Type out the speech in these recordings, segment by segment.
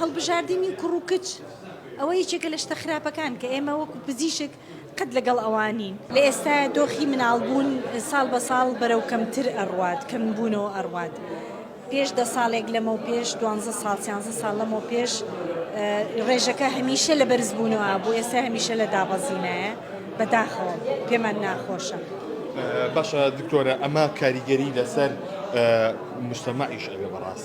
هەڵبژاردنی کوڕ و کچ ئەوە یەکێکە لە شتە خراپەکان کە ئێمە وەکو پزیشک قەت لەگەڵ ئەوە نین. لە ئێستایا دۆخی مناڵبوون ساڵ بە ساڵ بەرەو کەمتر ئەڕوات، کەمبوونەوە ئەڕوات. پێش دە ساڵێک لەمەو پێش، دوانزە ساڵ، سیانزە ساڵ لەمەو پێش ڕێژەکە هەمیشە لە بەرزبوونەوە بوو، ئێستا هەمیشە لە دابەزینایە، بە داخەوە پێمان ناخۆشە. باشە دکتۆرە ئەمە کاریگەری لەسەر مجتەمەعیش ئەبێ بەڕاستی؟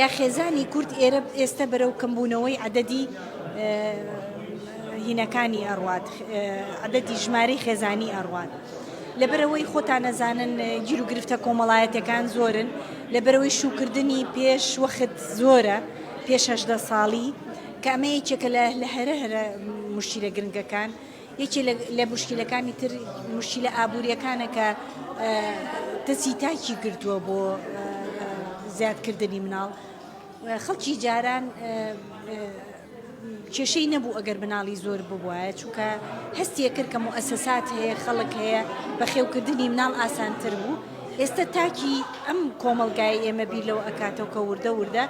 یا خێزانی کورد ئێرە ئێستە بەرەو کەمبوونەوەی عەدەدی هینەکانی ئەڕوات عەدەدی ژمارەی خێزانی ئەڕوات لەبەرەوەی خۆتان نەزانن گیر و گرفتە کۆمەڵایەتەکان زۆرن لەبەرەوەی شوکردنی پێش وەخت زۆرە پێش هەشدە ساڵی کامەیەکێکە لە لە هەرە هەرە مشتیرە گرنگەکان یەکێ لە موشکیلەکانی تر موشکیلە ئابووریەکانە کە دەستی تاکی گرتووە بۆ زیادکردنی مناڵ خەڵکی جاران کێشەی نەبوو ئەگەر مناڵی زۆر ببواە چونکە هەستیە کرد کە مؤسسات هەیە خەڵک هەیە بەخێوکردنی مناڵ ئاسانتر بوو ئێستا تاکی ئەم کۆمەلگای ئێمە بیر لەو ئەکاتەوە کە وردە وردە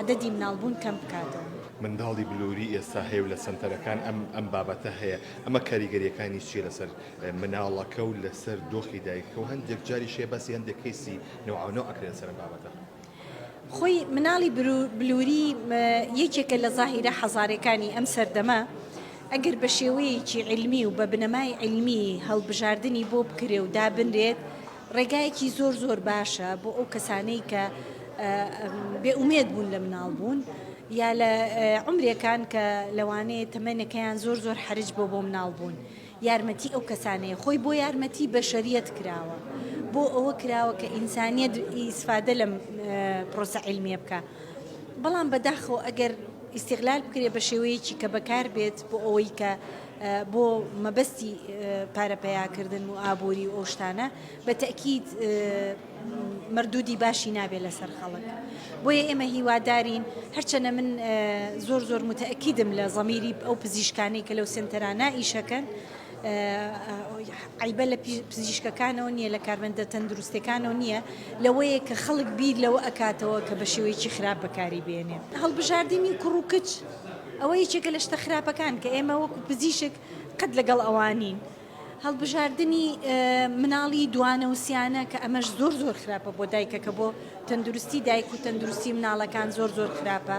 عدەدی مناڵبوون کەم بکاتەوە. منداڵی بلوری ئێستا هەیە و لە سەنتەرەکان ئەم ئەم بابەتە هەیە، ئەمە کاریگەریەکانی چیە لەسەر مناڵەکە و لەسەر دۆخی دایکەکە و هەندێک جاریش هەیە باسی هەندێک کەیسی نەوعەونەو ئەکرێ لەسەر ئەم بابەتە؟ خۆی مناڵی بلوری یەکێکە لە زاهیرە حەزارەکانی ئەم سەردەمە، ئەگەر بە شێوەیەکی علمی و بە بنەمای علمی هەڵبژاردنی بۆ بکرێ و دابنرێت ڕێگایەکی زۆر زۆر باشە بۆ ئەو کەسانەی کە بێ ئومێد بوون لە مناڵ بوون یا لە عمرێکان کە لەوانەیە تەمەنەکەیان زۆر زۆر حرج بۆ بۆ مناڵ بوون یارمەتی ئەو کەسانەیە خۆی بۆ یارمەتی بەشەریەت کراوە بۆ ئەوە کراوە کە ئینسانیت ئیسفادە لەم پرۆسە علمیە بکە بەڵام بەداخەوە ئەگەر ئیسیغلال بکرێت بە شێوەیەکی کە بەکار بێت بۆ ئەوەی کە بۆ مەبەستی پارە پەیاکردن و ئابووری و ئەو شتانە بە تەئکید مەردودی باشی نابێت لەسەر خەڵک بۆیە ئێمە هیوادارین هەرچەنە من زۆر زۆر متەئکیدم لە زەمیری ئەو پزیشکانی کە لەو سنتەرانە ئیشەکەن عیبە لە پزیشکەکانەوە نییە لە کارمەندە تەندروستەکانەوە نییە لەوەیە کە خەڵک بیر لەوە ئەکاتەوە کە بە شێوەیەکی خراپ بەکاری بێنێ هەڵبژاردننی کوڕ و کچ ئەوە یەکێکە لە شتە خراپەکان کە ئێمە وەکو پزیشک قەت لەگەڵ ئەوان نین. هەڵبژاردنی مناڵی دوانە و سیانە کە ئەمەش زۆر زۆر خراپە بۆ دایکەکە بۆ تەندروستی دایک و تەندروستی مناڵەکان زۆر زۆر خراپە.